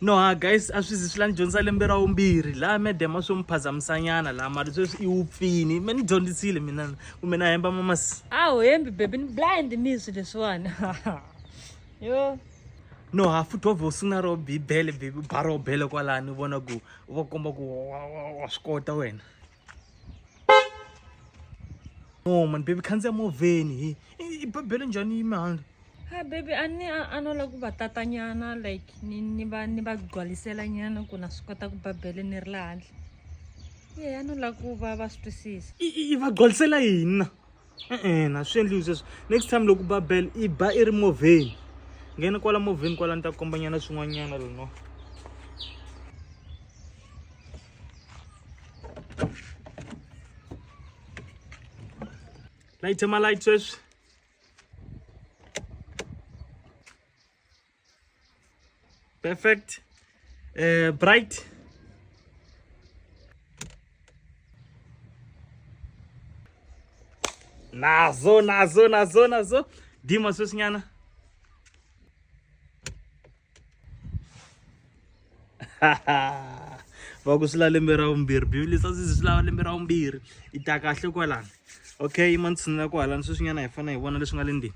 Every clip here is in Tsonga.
No ha guys a swi zi swi la ni dyondzisa lembe ra vumbirhi laha madam a swo mi phazamisanyana laha mali sweswi i wupfini me ni dyondzisile mina kumbe na hemba mamas a wu hembi baby ni blind ni swi leswiwani yo no ha futhi wa vhe u sungula ro bibele baby u ba ro bele kwalani u vona ku u va komba ku wa swi kota wena no mani bebi khandziya movheni hi i babele njhani yi mihandla ha bebi a ni a no lava ku va tata nyana like ni ni va ni va gcwalisela nyana ku na swi kota ku babele ni ri laha handle ye a no lava ku va va swi twisisa i va gcwalisela yini na ina swi endliwi sweswo next time loko ba bell i ba i ri movheni nghena kwala movheni kwala ni ta kombanyana swin'wanyana lono layithi ma layithi sweswi Perfect. Uh, bright. Nazo, nazo, nazo, nazo. Dima susinyana. va ku swi la lembe ra vumbirhi bibele sa swi swi lava lembe ra vumbirhi i ta kahle kwalani okay yi ma ni tshinela ku halani sweswinyana hi fanele hi vona leswi nga le ndini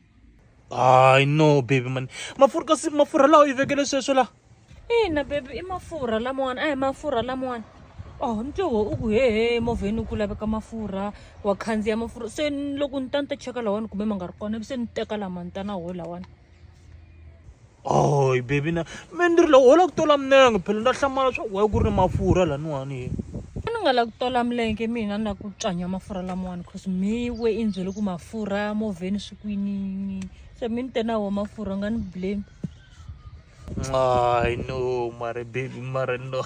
I know, baby man. Mafurha kasi mafurha lawa i vekele sweswo la. Ina baby i mafurha lamawani a hi mafurha lamawani. Oh ntloho u ku hehe movheni u ku laveka mafurha wa khandziya mafurha se loko ni ta ni ta cheka lawani kumbe ma nga ri kona se ni teka lama ni ta na wo lawani. oy baby na me ni ri loko wo lava ku tola minenge phela na hlamala swa ku waye ku ri ni mafurha laniwani ye a ni nga lava ku tola milenge mina ni lava ku tswanya mafurha lamawani cause mi we i ni byele ku mafurha movheni swi kwinini se mi ni te na wo mafurha u nga ni blame ay no mare baby mare no